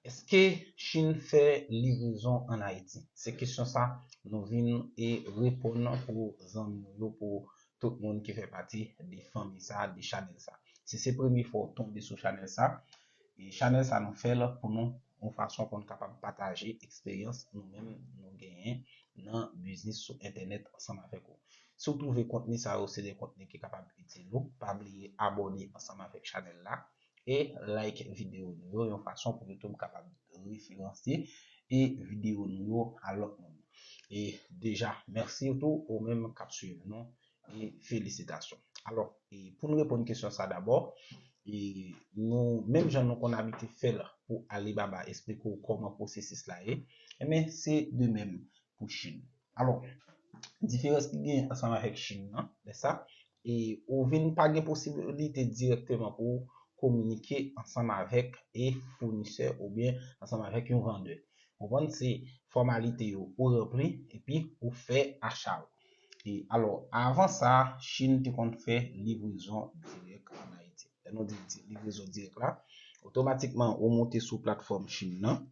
Eske Chine fè livrezon an Ayiti? Se kesyon sa nou vin e reponn pou zanmi nou yo, pou tout moun ki fè pati de fanmi sa, de chanèl sa. Si se premye fwa ou tonbe sou chanèl sa, e chanèl sa nou fè l pou nou, yon fason pou nou kapab pataje eksperyans nou menm nou genyen nan biznis sou entènèt ansanm avèk ou. Si w twouve kontni sa yo se de kontni ki kapab itil ou, pa bliye abòne ansanm avèk chanèl la, e like videyo nou yo yon fason pou YouTube kapab referanse e videyo nou yo a lòt moun e deja mèsi tou ou menm kap swiv nou e felisitasyon alò e poun reponn kesyon sa dabò e nou menm jan nou konn abitye fèl pou Alibaba esplike ou kòman pwosesis la ye enben se de menm pou chine. Alò, diferans ki genyen ansanm avèk Chine nan, lè sa, e ou vin pa gen posibilite dirèkteman pou ou kominike ansanm avèk e founisè oubyen ansanm avèk yon vandè. Konprann? Se fòmalite yo ou ranpli epi ou fè acha ou. E alò, avan sa, Chine te konn fè livrezon dirèk an Ayiti. Lè nou di livrezon dirèk la, otomatikman ou moute sou platfòm Chine nan,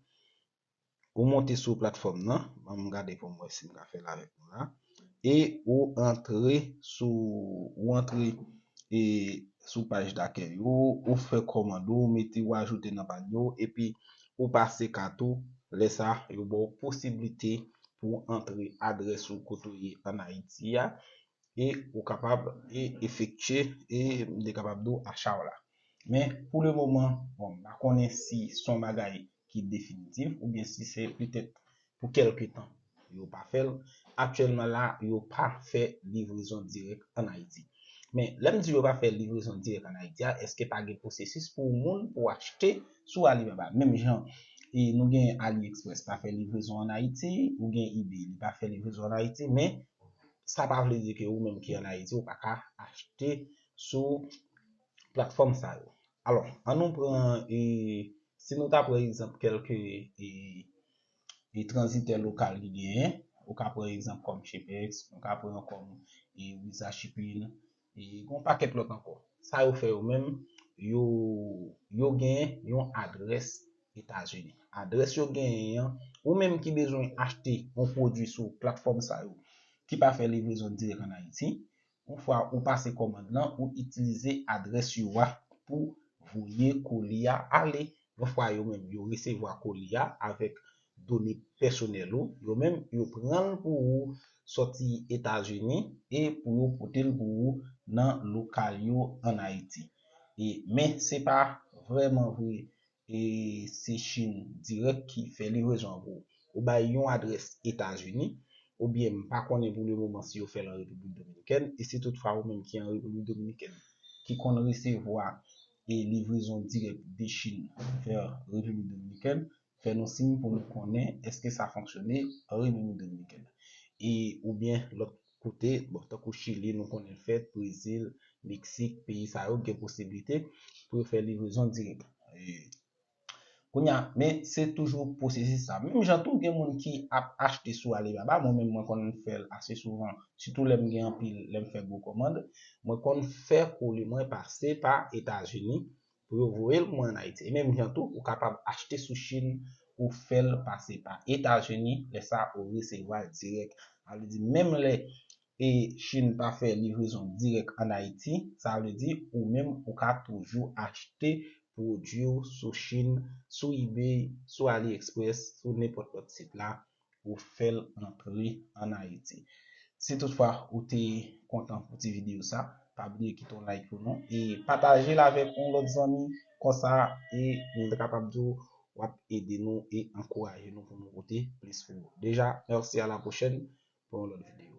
Ou monte sou platfòm nan, ban m gade pou m wè si m ka fè l avèk nou la, e ou antre sou, ou antre e sou paj dakèy yo, ou fè kòmand ou, ou mete, ou ajoute nan panye w, epi ou pase kat ou, lè sa yo ba w posiblite pou w antre adrès ou kote ou ye an Ayiti a, e ou kapab e efektye e m te kapab di w acha w la. Men pou le moman, bon m pa konnen si son bagay ki definitif oubyen si se petèt pou kèlke tan yo pa fè l. Aktyèlman la, yo pa fè livrezon dirèk an Ayiti. Men, lè m di yo pa fè livrezon dirèk an Ayiti a, èske pa gen pwosesis pou ou moun pou w achte sou Alibaba? Menm jan nou gen AliExpress pa fè livrezon an Ayiti, ou gen eBay li pa fè livrezon an Ayiti, men sa pa vle di ke ou menm ki an Ayiti ou pa ka achte sou platfòm sa yo. Alò, an nou pran, si nou ta pran egzanp kèlke tranzitè lokal ki genyen, ou ka pran egzanp kòm Shepex, ou ka pran kòm Wiza Shipin, gen yon pakèt lòt ankò. Sa yo fè yo menm, yo gen yon adrès Etazini. Adrès yo genyen an, ou menm ki bezwen achte yon pwodui sou platfòm sa yo, ki pa fè livrezon dirèk an Ayiti, Yon fwa ou pase kòmand lan, ou itilize adrès yo a pou voye koli a ale. Yon fwa yo menm yo resevwa koli a avèk done pèsonèl ou, yo menm yo pran l pou ou sòti Etazini e pou yo pote l pou ou nan lokal yo an Ayiti. Men se pa vrèman vre E se chine direct ki fè livrezon an pou ou. Ou bay yon adrès etazini, ou byen m pa konnen pou le moman si yo fèl an repiblik dominikèn, e si tout fwa ou menm ki an repiblik dominikèn ki konn resevwa e livrezon dirèk de chine vers repiblik dominikèn, fè nou siy pou nou konnen eske sa fonksyone an repiblik dominikèn. E ou byen lòt Kote, bon tankou Chili nou konnen l fèt, Brezil, Meksik, peyi sa yo gen posiblite pou yo fè livrezon dirèk. Kounye a, men se toujou pwosesis sa. Menm jan tou gen moun ki ap achte sou Alibaba, mwen menm mwen konn fè l ase souvan, sitou lè m gen anpil, lè m fè gwo kòmand, mwen konn fè koli mwen pase pa Etazini pou yo voye l mwen an Ayiti. E menm jan tou, ou kapab achte sou Chine ou fè l pase pa Etazini, lè sa a ou resevwa l dirèk. Sa vle di menm lè e Chine pa fè livrezon dirèk an Ayiti, sa vle di ou menm ou ka toujou achte pwodwi w sou Chine, sou eBay, sou AliExpress, sou nenpòt lòt sit la ou fè l antre an Ayiti. Si tout fwa ou te kontan pou ti videyo sa, pa bliye kite yon like pou nou e pataje l avèk yon lòt zanmi konsa e m ta kapab di w w ap ede nou e ankouraje nou pou nou pote plis pou ou. Deja, mèsi a la pwochèn pou yon lòt videyo.